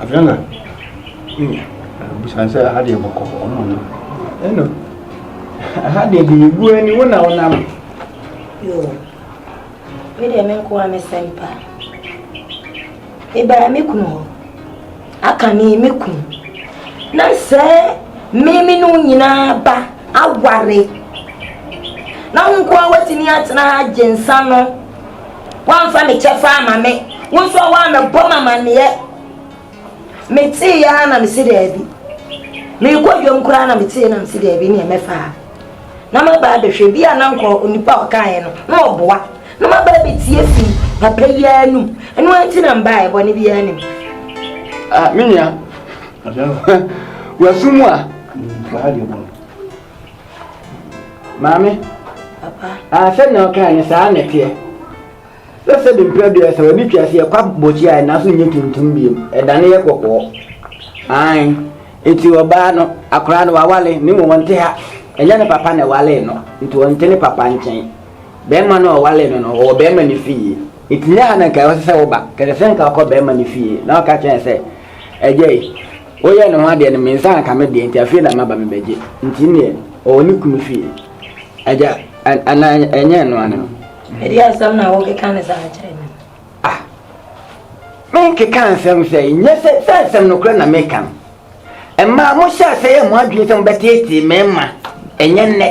Afei na busan sɛ aha deɛ bɔkɔ ɔmo no ɛno aha deɛ deɛ egu ani wo na wonam. Yoo me deɛ me nko a me sɛm pa ebaa me kunu hɔ aka ne me kunu na sɛ mmemme no nyinaa ba aware na wo nko a watumi atena ha gye nsa no Woamfa me kyɛfa amma me, wo nso a woammɛbɔ me amanneɛ. Meteeɛ ara na mese daabi. Merekɔ dwam koraa na meteeɛ na mese daabi neɛ mɛfa ha. Na maba abɛhwɛ bi a na nka onipa a ɔkaeɛ no na ɔboa. Na maba abɛtie afiri papa yi ara anum. Ɛno ara nti na mbaeɛ, bɔne biara nni mu. Ah, me nua, wɔ asu mu a. maame asɛm na ɔkae no saa na ɛteɛ sɛ sɛ de mpira dua sɛ wɔde twa aseɛ kwa bɔkyi a ɛna so nyɛ tuntum biom ɛda no yɛ kɔkɔɔ an nti ɔbaa no akora no wawale ne mu wɔnte ha ɛnyɛ ne papa na ɛwale no nti wɔnte ne papa nkyɛn bɛrima no ɔwale no no ɔwɔ bɛrima no fie nti nyɛ ha na nka ɛwɔ sɛ sɛ woba kɛsɛ sɛ nka ɔkɔ bɛrima no fie na ɔka kyerɛ sɛ ɛgya yi Woyɛ ne ho adeɛ no mensa anka me deɛ nti afei na maba mebɛgye nti neɛ ɔwɔ ne kunu fie agya ana ɛnyɛ ɛno ano no. Ɛdeɛ asɛm na wokeka ne saa kyerɛ me. Ah menkeka nsɛm sɛ nyɛ sɛ sɛ nsɛm nokorɛ na meka no ɛmaa mohyɛ asɛ yɛ mo adwene sɛ mobɛteetee mɛma ɛnyɛ nnɛ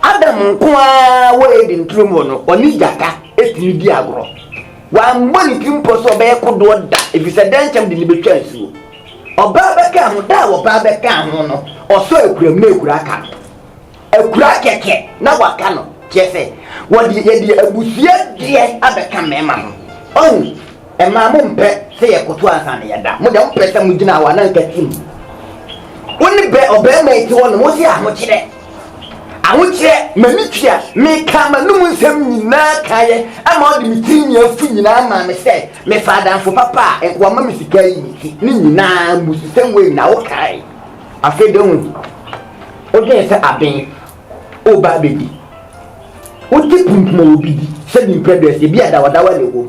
Adam nko ara wɔ Eden turo mu no ɔne gyata ɛtumi di agorɔ. Wammɔ ne tirim pɔ sɛ ɔbɛyɛ kodoɔ da, ɛfiri sɛ dɛnkyɛm de no bɛtwa asuo. Ɔbaa bɛkaa ho, da a ɔbaa bɛkaa ho no, ɔsɔɔ akuram na akura aka no. Akura kɛkɛ na waka no, kyerɛ sɛ, wɔde, yɛde abusua deɛ abɛka mmarima ho. Ɔhu, mmaa mompɛ sɛ yɛkoto ansa na yɛda, mo deɛ mopɛ sɛ mogyina hɔ a na nka tim. Wo ne bɛ, ɔbarima yi te hɔ nom, wo se ahokyerɛ. Ahogyeɛ, m'ani tua, mekaa m'anom nsɛm nyinaa kaeɛ, ɛma ɔde me tirinwi afu nyinaa maa me sɛ mefa adamfo papa a nka wama me sika yi nti. Ne nyinaa mmususɛm wei na wokae. Afei deɛ wohu, wodwene sɛ aben woreba abɛdi. Wote pum pum a obi di sɛ bi mprɛ berɛse, bi a dawɔdawɔ na ɛwom.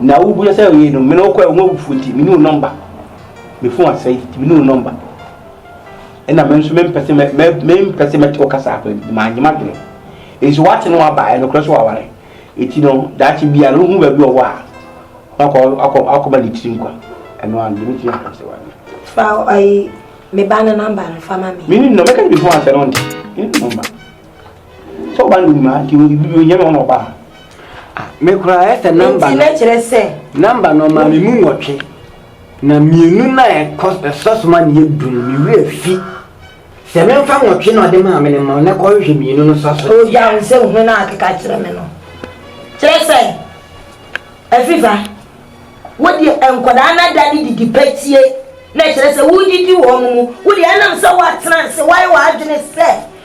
Na wobua sɛ oye no, mene wokɔɛ wo awufoɔ nti, mene wo nɔmba. Me fon asɛe nti, mene wo nɔmba. Ɛna me nso mempɛ sɛ mempɛ sɛ mɛte wo kasa akɔ nti, manyɛ m'adwene. Nso wate no aba, ɛnokorɛ so waware. Eti no, daakye bi a, na wohu baabi ɔwɔ a, wakɔ akɔma ne tiri nkwa. Ɛno ano, deɛ mɛtumi aka sɛ wanyɛ. Fa ayi, me ba no nɔmba no fa ma me. Mene no, mɛka ne me fon asɛe no, wonte? Mene no nɔmba. Sɛ ɔba no nim a nti onyɛ no ɔna ɔba a. Ah, me koraa ɛsɛ namba no. Nti na kyerɛ sɛ. Namba no ɔma me mu nwɔtwe. Na mmienu na ɛkɔ ɛsɔ so ma ne yɛ du no me werɛ fi. Sɛ memfa nwɔtwe na ɔde maa me no mma na kɔhwehwɛ mmienu no sɔ so. Ogya wo sɛ wohu na akeka kyerɛ me no. Kyerɛ sɛ Afifa wo deɛ nkwadaa no ada ne didi patie na kyerɛ sɛ wodidi wɔn mu. Wo deɛ ɛnam sɛ woatena ase woayɛ w'adwene sɛ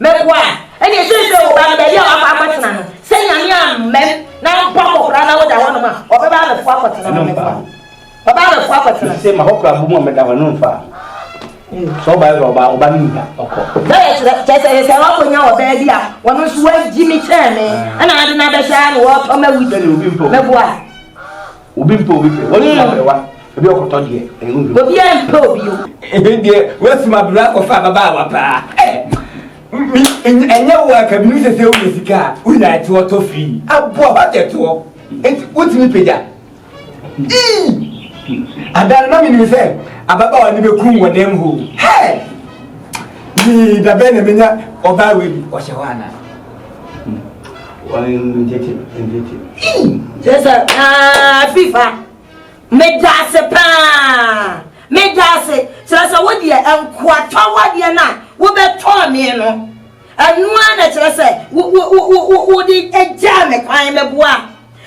Mɛkɔ a, ɛnneɛ seesei wo ba no, baabi a wakɔ akɔtena no, sɛ Nyame ammɛn na ampo akɔkora na woda hɔnom a, ɔbɛba abɛfo akɔtena hɔ, mɛkɔ a, ɔbɛba abɛfo akɔtena. Seesei ma hɔ kora bɔ mu a meda hɔ, ɛno mfa a, sɛ ɔba yɛ ɔba, ɔba no nnya, ɔkɔ. Sɛ yɛkyerɛ, kyerɛ sɛ yɛsɛ wakɔnya ɔbaa bi a ɔno nso wagyi me kyɛn me, ɛna ade no abɛhyɛ a na wɔretɔ m'awudi, mɛkɔ a. obi mpɛ obi pɛ wɔn nyinaa bɛrɛwa ebi ɔkɔtɔ deɛ ɛyɛ obi. obi a mpɛ obi o. ebi deɛ wɛsi ma bere akɔfa ababaawa paa ɛ mi ɛnyɛ wo a kabi mi sese wo sika a wo nyinaa ɛte ɔtɔ firi abo a wate ɛte hɔ eti wotumi pagya ii adan ma mi nim sɛ ababaawa ne bɛ kum wɔ nɛɛm hoo hɛɛ yii dabɛn na mi nya ɔbaa wei bi ɔhyɛ hɔ anaa. sɛsɛ aa fifa meda ase paa meda ase kyerɛ sɛ wodeɛ nkoatɔwadeɛ no a wobɛtɔɔ me no ɛnoa na kyerɛ sɛ wode gyaa me kwan mɛboa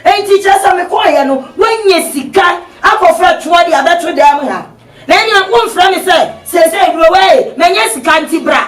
nti kyerɛ sɛ mekɔɔyɛ no woanya sika akɔfrɛ toɔ de abɛto dɛm ha na ɛnea womfrɛ me sɛ sɛsɛ aduro wei manya sika nti bra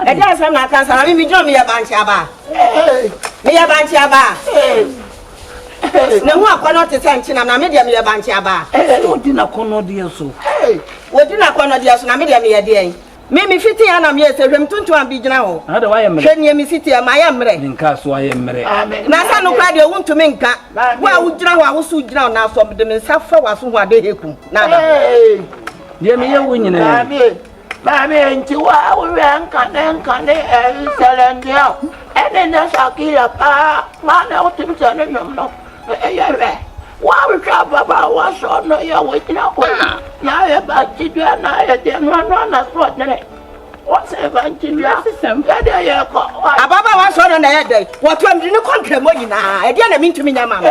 Ɛdeɛn asɛm na aka saa? Maame megyina meyɛ bankye abaa. Meyɛ bankye abaa. N'ahu akɔnnɔ te sɛ nkyena na me deɛ meyɛ bankye abaa. Wɔdi n'akɔnnɔdeɛ so. Wɔdi n'akɔnnɔdeɛ so na me deɛ meyɛ deɛn? Me mefiti a na meyɛ sɛ hwam tuntum bi gyina hɔ. Hwɛ neɛ mesi teɛ mayɛ mmerɛ. Ne nkaa so ayɛ mmerɛ. Na sɛ no koraa deɛ wontumi nka. Wo a wogyina hɔ a wo so wogyina ɔnaa so mede me nsa fa w'aso ho a dɛ hekum na ada hɔ. Deɛ meyɛ wo nyinaa. Maame nti wo a wo werɛ nkane nkane Ɛnsɛlɛn deɛ o ɛne nnɛ Shakira paa Maa na wotim sɛ ne nnwom no ɛyɛ hwɛ Wo a wohwɛ ababaawa so no yɛ wo gyina ko Na ayɛ bankye dua na ayɛ deɛ no ano anasoɔdene Wɔsɛ bankye dua yɛdeɛ yɛkɔ Ababaawa so no na ɛyɛ dɛn Wɔtoa mede no kɔ nkramɔ nyinaa Ɛdeɛ na mentumi nyɛ ma no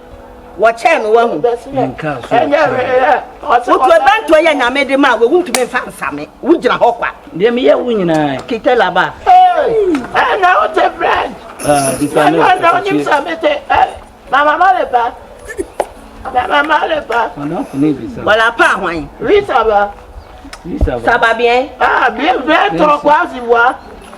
wɔkyɛɛ no wahu. Wotu ɛbɛntoɔ yɛ nyame de ma a wɔwu ntumi mfa nsame wogyina hɔ kwa. Deɛ meyɛ wo nyinaa. Kite laba. Ɛna wote brɛd. Ɛna na wonim sɛ mete mama ma ne ba. Mama ma ne ba. Wala pa ahwan. Risa ba. Risa ba. Saba bien. Ah bien bien tɔkwa si wa.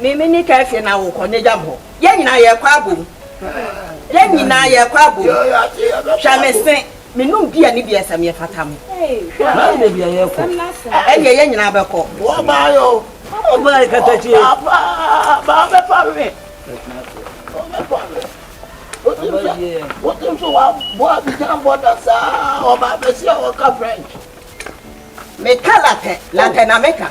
Me me ne Kefie na wo kɔ nagyam hɔ yɛn nyinaa yɛ kɔ abom yɛn nyinaa yɛ kɔ abom hwɛ me se me nom bia ne bia sɛ me fata me Mami ne bia yɛ kɔ ɛnyɛ yɛn nyinaa bɛ kɔ Wo ba yo Wo ba yɛ katakyie Papa ba bɛ pa me Wo bɛ pa me Wotim sɛ wotim sɛ wa bɔ abidjan bɔ da saa ɔba bɛ si a ɔka French Me ka latɛ latɛ na me ka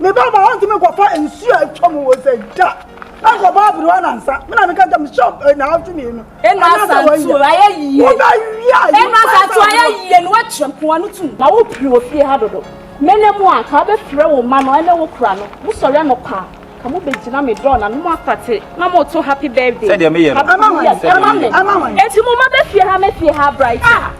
Me ba ma ɔntumi nkɔfa nsuo a atwa mu wɔ sɛ da ɛnkɔbɔ aberewa nansa me na meka ntam hyɛ eh, naawɔtwe mmienu anaasɛ wɔyɛ wobɛwia ɛnasatu ayɛ yie no wakyerɛ nkoa no tum na wopiri wɔ fie ha dodo mene mu a ka wobɛfrɛ wo ma no ɛne wo kora no mosɔre anɔpa ka mobɛgyina me dɔɔ na no mu apate na moto happy birthday sɛdeɛ meyɛ no ɛma me ɛnti mo ma bɛfie ha mɛfie ha bright ah!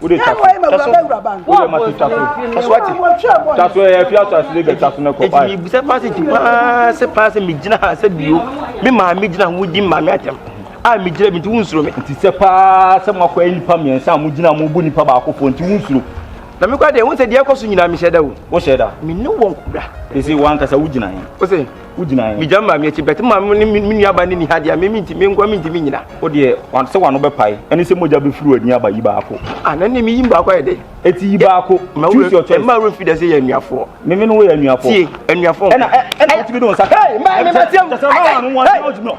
wo de taso taso wo de ma to taso taso ati taso ɛyɛ fi ato ase de gɛ taso ne kɔ ɛti mi bisa paase ti paase paase mi gyina ha sɛ bio mi maa mi gyina ho di maa mi atɛm a mi gyina mi ti wunsuro mi. nti sɛ paa sɛ mo akɔ nipa mmiɛnsa a mo gyina mo bu nipa baako fo nti wunsuro. na mi kɔ adeɛ wunsɛ deɛ ɛkɔ so nyinaa mi hyɛ da o. o hyɛ da. mi ne wɔn kura. esi wɔn ankasa wo gyina yɛn. o se. megya maa me akyi bɛte ma me ne me nuaba ne ni ha deɛ me menti me nkoa mentimi nyina wo deɛ sɛ wano bɛpae ɛne sɛ mogya bɛfiri w'ani aba yi baako ah, na ne meyim baako ayɛ dɛ ɛti yi baako choose your choice ɛma wura mfi dɛ sɛ yɛ anuafoɔ me me no woyɛ anuafoɔ tie anuafoɔ ɛna ɛna wotumi de wo nsa hey mmaa me mɛteɛ wo sɛ sɛ ɔma wano wɔn sɛ wotumi no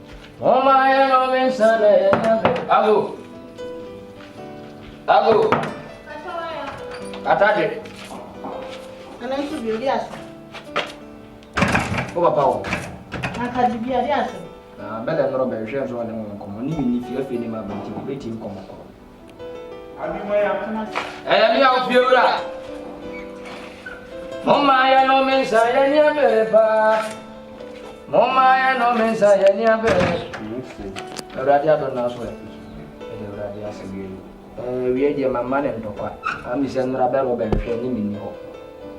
Momma yɛnnɔ me nsa na yɛnyɛ pɛ. Ago. Ago. Atade. Ɛno nso bi odi ase. Wo papa wo. Atade bi odi ase. Na bɛlɛ nnɔrɔ bɛhwɛ nso ɔne ho nkɔmmɔ ne menni fie afei ne ma bɛnti bɛti nkɔmmɔ kɔ. Ɛyɛ me a ofie wura. Moma yɛ no me nsa yɛ ni abere paa. Moma yɛ no me nsa yɛ ni abere. Awurade adɔ na so ɛ. Ɛdɛ awurade asɛ wie. Ɛɛ wie deɛ mama ne ntɔkwa. Ami sɛ nnora bɛrɛ ɔbɛnhwɛ ne menni hɔ.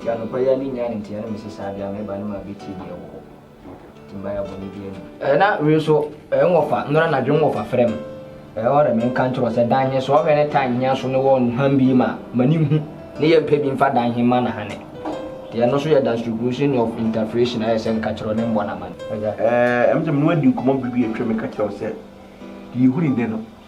Yɛ anɔpa yɛ ani nya ne nteɛ ne me sesa adeɛ a meba ne ma bɛtie deɛ wɔ hɔ. na wei nso nwɔfa nnora anadwo nwɔfa frɛ m ɔrɛ me nka nkyerɛ sɛ dan he so ɔhwɛ ne tan hia so ne wɔ nnuham bi ma ma ne hu ne yɛ mpɛ bi mfa dan he ma na ha ne te ɛno nso yɛ distribution of interpretation ayɛ sɛ nka kyerɛ ne mbɔ na ma ne ɛɛ ɛmɛ sɛ mene wadi nkɔmmɔ biribi atwa me ka kyerɛ sɛ deɛ yɛhu ne nɛ no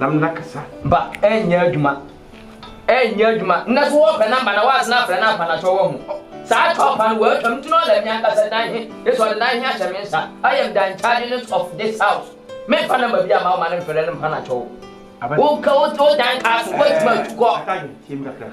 na me na kasa. Ba ɛnyɛ adwuma ɛnyɛ adwuma nnɛ so wɔpɛ namba na wɔasena afrɛ no ampa na kyɛ wɔahu saa tɔpa no wɔatwa me ti no ɔlɛ me ankasa dan he ne so ɔde dan he ahyɛ me nsa I am the inchargeness of this house memfa namba bi ama wo ma no mfrɛ no mpa na kyɛ wo wo ka wo dan kaa so woatumi atu kɔ.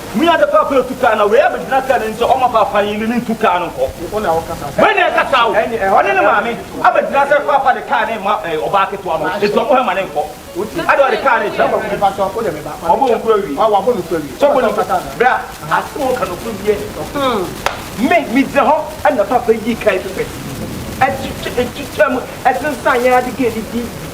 Hu yɛ ade paapa etu kaa na wei abegyina kaa n'ani sɛ ɔma paapa yi ne no ntu kaa no nkɔ. Wei na ɛkasa o, ɔne ne maame abegyina sɛ paapa de kaa no rema ɔbaa ketewa no nti ɔmo hɛ ma ne nkɔ. Ade ɔde kaa no rekyɛ no, wabɔ wɔn koro awie. Sɔfo no kasa no, bra, asɛm a ɔka no koro wie. Me, me gyina hɔ ɛna paapa yii kaa yi fefɛ, ɛtwitwa, ɛtwitwa mu, ɛsensan yɛn ade kaa yi di.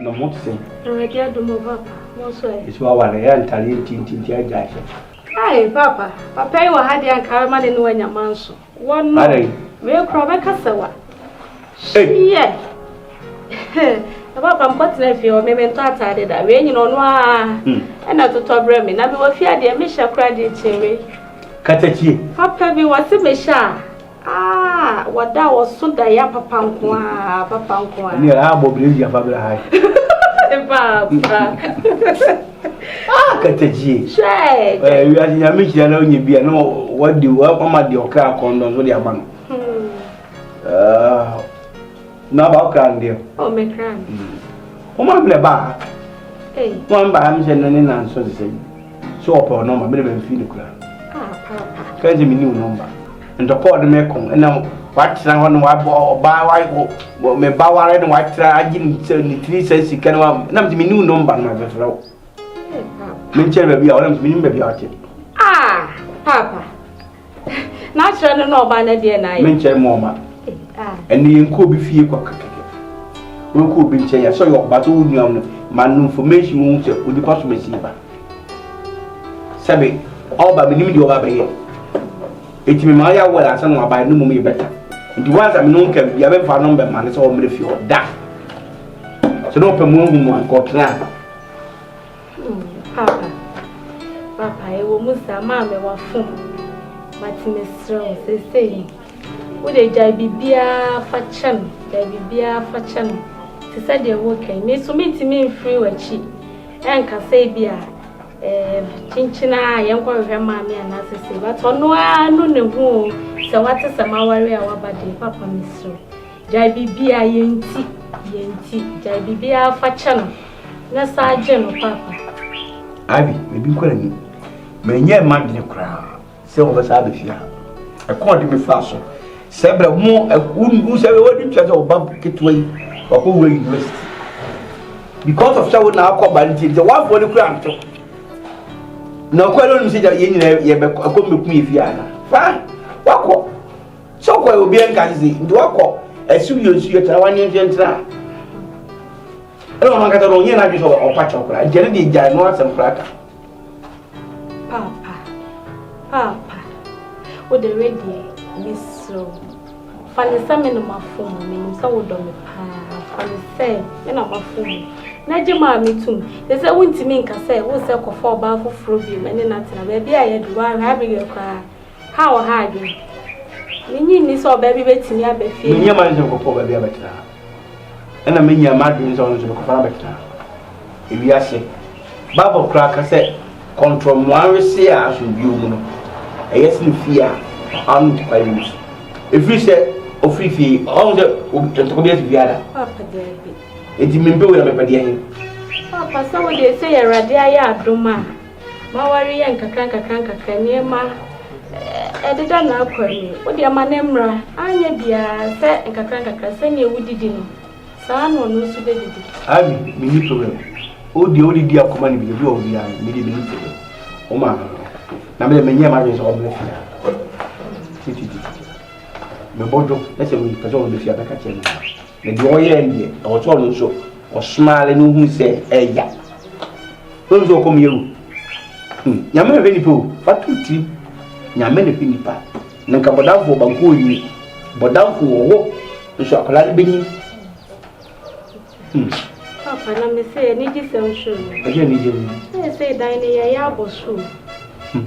Na mo se. Awurade adom o papa, mo nso ɛ. Nso aware ɛ ntareɛ ntintinti agya ahyɛ. Kai papa, papa yi wɔ ha deɛ anka bɛma ne ne wanya manso. Wɔ no. Adɛn. Wei kora bɛka sɛ wa. Hyɛ. Na papa mkɔ tena fie hɔ, me me ntɔ ataade da. Wei nyina ɔno aa. Ɛna totɔ brɛ me, na me wɔ fie adeɛ me hyɛ kora deɛ kyɛ wei. Katakyie. Papa bi wɔ se me hyɛ a. Aah wada wɔso daeɛ apapa nko aa apapa nko aa. Ɛni ɛla abɔ bere yi afa bere hai. Paapa. Ah katajie. Hwɛ. Ɛɛ wi ase nyame hyira na onye bi a na wadi wama di ɔkra akɔndɔn so de ama no. Ah. Na ba ɔkra no deɛ. Oh me kra. Wɔn a mlɛ ba. Hey. Wɔn ba am sɛ no ne nanso sɛ sɛ ɔpɛ ɔnɔma mene bɛ mfi ne kura. Ah paapa. Kɛse mi ni ɔnɔma. Ntɔkwaw no mɛko na watena hɔ na wabɔ ɔbaa wa wɔ me ba ware na watena agye ne sɛ ne tiri sɛ sika no wam na mede menu no mba no mabɛfrɛ wo menkyɛre baabi a wɔnam menim baabi a ɔte ah papa na akyerɛ no na ɔba no deɛ na ayɛ menkyɛre mu ɔma ɛne yɛnkɔ obi fie kɔ kakɛkɛ wɔnkɔ obi nkyɛn yɛ sɛ ɔyɛ ɔba sɛ wo nuam no ma no information wo sɛ onipa so mɛsi ba sɛbe ɔba menim deɛ ɔba bɛyɛ ɛti mema ɔyɛ awɔre ansa na wabae no mmom yɛ bɛta nti wansa me ne wo nka bia bɛmfa no mbɛma ne sɛ ɔmmerɛ fie hɔ da sɛ ne ɔpɛ mu ahu mu anka ɔtena Papa, papa, ɛwɔ mu saa maa me wafo mate mesrɛ wo sesei wode gyae biribiaa fa kyɛ no gyae biribiaa fa kyɛ no te sɛ deɛ woka yi me so mentumi mfiri w'akyi Ɛnka sɛ ebia kyenkyen a yɛnkɔhwehwɛ maame anaa sese but ɔno ara no ne ho o sɛ wate sɛ maware a waba deɛ papa mesrɛ gyae biribi a yɛnti yɛnti gyae biribi a fa kyɛ no na saa gye no papa abi biribi kɔ ani manyɛ mma dwene koraa sɛ wɔbɛsa abɛ fie ha ɛkɔɔ de mefa so sɛ berɛ mo wo sɛ wɔde tua sɛ ɔba ketewa yi wakɔ wura university because of sɛ wo na akɔ ba nti sɛ woafoɔ no kura nto na ɔkɔ ɛno nim sɛ yɛ nyina yɛbɛ ɛkɔ mbɛku yɛ fie ana fa wakɔ sɛ ɔkɔ yɛ obiɛ nka sese nti wakɔ ɛsi yɛ nsu yɛ tena wanyɛ nhyɛ ntena ɛna ɔno ankasa no ɔnyɛ n'adwe sɛ ɔpa kyɛw koraa nti ɛno deɛ gyae no asɛm koraa ka Paapa, paapa, wo de redeɛ ne srɛ wo. Fa ne sɛ me na mafo mu, menim sɛ wodɔ me paa. Fa ne sɛ me na mafo mu. Na gye maa me tum. Te sɛ wontumi nka sɛ wo sɛ kɔfa ɔbaa foforɔ bio na ne na tena baabi a yɛde wo ahwɛ abereɛ koraa. Ha wɔ ha adwene. Menye nni sɛ ɔbaa bi bɛtumi aba fie ha. Menyɛ manhyɛ nkɔpɔ baabi abɛtena ha. Ɛnna minyaa m'adwene sɛ ɔno nso mekɔfa no abɛtena ewiase. Bible koraa ka sɛ kɔntoro mmoa wese a asomdwoe mu no, ɛyɛ sene fie a ano ntu kwae mu. Ɛfiri sɛ ɔfiri fie yi, ɔhu sɛ ntɔkwa bi asi biara. Enti mempɛ wei na mepɛ deɛ he? Papa, sɛ wode sɛ yɛ Awurade ayɛ adom a, ma wɔreyɛ nkakrankakra nneɛma ɛdeda n'akwan mu yi, wo deɛ ma no mmra, anyɛ biara sɛ nkakrankakra sɛdeɛ wodidi no, saa ara na ɔno nso bɛdidi. Ivy, Menni problem. Wo deɛ wode di akoma no bi deɛ, bi wɔ hɔ biara no, me deɛ menni problem. Wo maa me no, na me deɛ menyɛɛ m'adwene sɛ ɔbɛba fie ha. Tititititi. Mebɔ dwo, na sɛ mepɛ sɛ ɔba fie a, mɛka kyerɛ ne maame. Na deɛ ɔyɛɛ no deɛ, ɛwɔ sɛ ɔno nso ɔsmile na ohunu sɛ ɛya. Wɔn nso ɔkɔm yɛ o. Hmm, nyame na hwɛ nipa o, fa to tirim. Nyame na hwɛ nipa. Na nka bɔdamfoɔ banku onyi. Bɔdamfo wɔ hɔ nso akwadaa no bɛnyi. Hmm. Papa na me sɛ anigye sɛm so no. Ɛyɛ anigye mu. Ɛyɛ sɛ dan no yɛyɛ abɔ so. Hmm.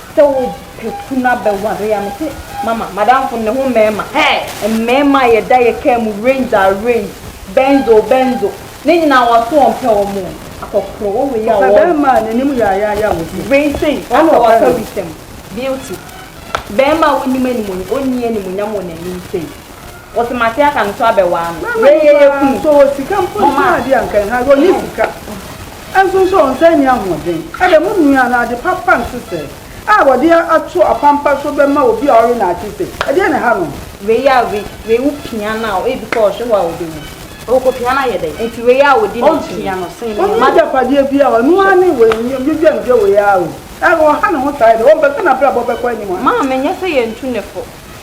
Sɛ wo pɛ kunu abɛware a mese mama madamfo no ne ho mmarima hey! Mmarima a yɛda yɛ car mu range a range Benz o Benzo ne nyinaa wɔato wɔn pɛ wɔn o Akɔkorɔ wɔ wei a wɔ Ɔpɛ barima a n'anim yaayaaya a wɔse wei sei a na waka wisɛm Beauty Barima a wonnim animuonyam onni animuonyam wɔ n'anim sei. Wɔse mate aka no so abɛ waa no wei yɛ yɛ kunu. So ɔwɔ sika mpo nso a deɛ anka ɛha deɛ ɔnyɛ sika nso nso a ɔnsan nni ahoɔden ɛdɛ mo nua no ade papa nso sɛ a ɔde ato apampa so bɛma obi a ɔwe no ate se ɛdeɛ na ɛha no. Wei a wei wei wo pia no a ebi kɔ ɔhwe hɔ a ɔbɛ wu. Ɔwɔ kɔ pia no ayɛ dɛn. Nti wei a ɔdi ne kyi no. Ɔnni agyapadeɛ bia a ɔno ara ne wei nyɛ dwadwandwa wei ara o. Ɔha ne ho saa yɛ dɛn ɔmpɛ sɛ nabrabɔ bɛkɔ anim a. Maame nyɛ sɛ yɛntu ne fo.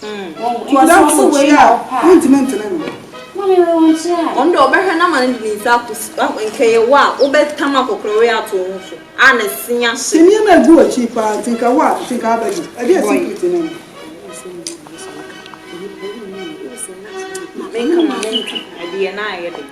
Tuada to wo kyi a, wontumi ntene no. Ɔno deɛ ɔbɛhwɛ no ama no de ne nsa akɔsi, nka ɛyɛ wo a, wobɛtam akɔkorɔwe ato wo ho so a na sin ahye. Sɛ nneɛma a ɛgu w'akyi paa nti nka wo a, nti nka abɛgye. Ɛdeɛn secret ne no? Menka ma menka, ɛdeɛ no ayɛ den.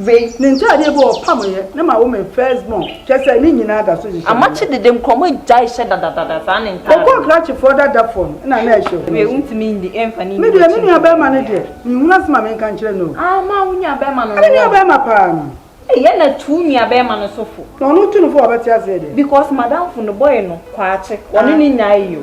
Ve, ne ntaadeɛ bi ɔpamoeɛ ne ma wo me first born kyerɛ sɛ ne nyinaa da so hyehyɛ me nnɛ. Amakye dede nkurɔmɔ agyae hyɛ dadadada saa ne ntaadeɛ. Ɔkɔɔ krakyefoɔ dadafoɔ no na na ɛhyɛ hɔ. Ve, wo ntumi ndi ɛmfa ne nni akyi nkurɔmɔ. Me deɛ me nuabarima no deɛ me nhunu asɛm a me nka nkyerɛ no o. Aah maa wo nuabarima no no wɔ. Me nuabarima paa no. Ei ɛna tu wo nuabarima no so fo. Na ɔno tu no fo a ɔbɛte aseɛ deɛ. Because madamfo no bɔe no kwakye wɔne no nyae yɛ o.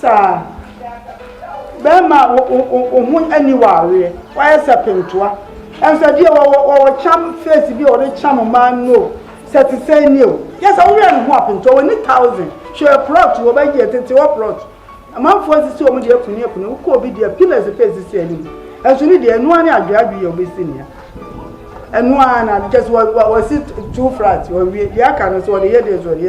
Saa. Bɛɛma a woho ani wɔ aweɛ, wayɛ sɛ pentoa. Ɛnso ɛdeɛ wɔwɔ kyam face bi a wɔde kyam mmaa no o, sɛ te sɛ ni o. Yɛ sɛ woyɛ ne ho a pentoa, w'ani thousand. Hwɛ plot wɔ bɛyi yɛ tete hɔ plot. Amanfoɔ asisi wɔn deɛ akuni akuni, wokɔ obi deɛ pillars pɛ sisi anim. Ɛnso ne deɛ ɛno ara ne adwe adwe yɛ obesi nea. Ɛno ara na just wɔsi two flats wɔwie deɛ aka no so wɔde yɛ deɛ so wɔde yɛ.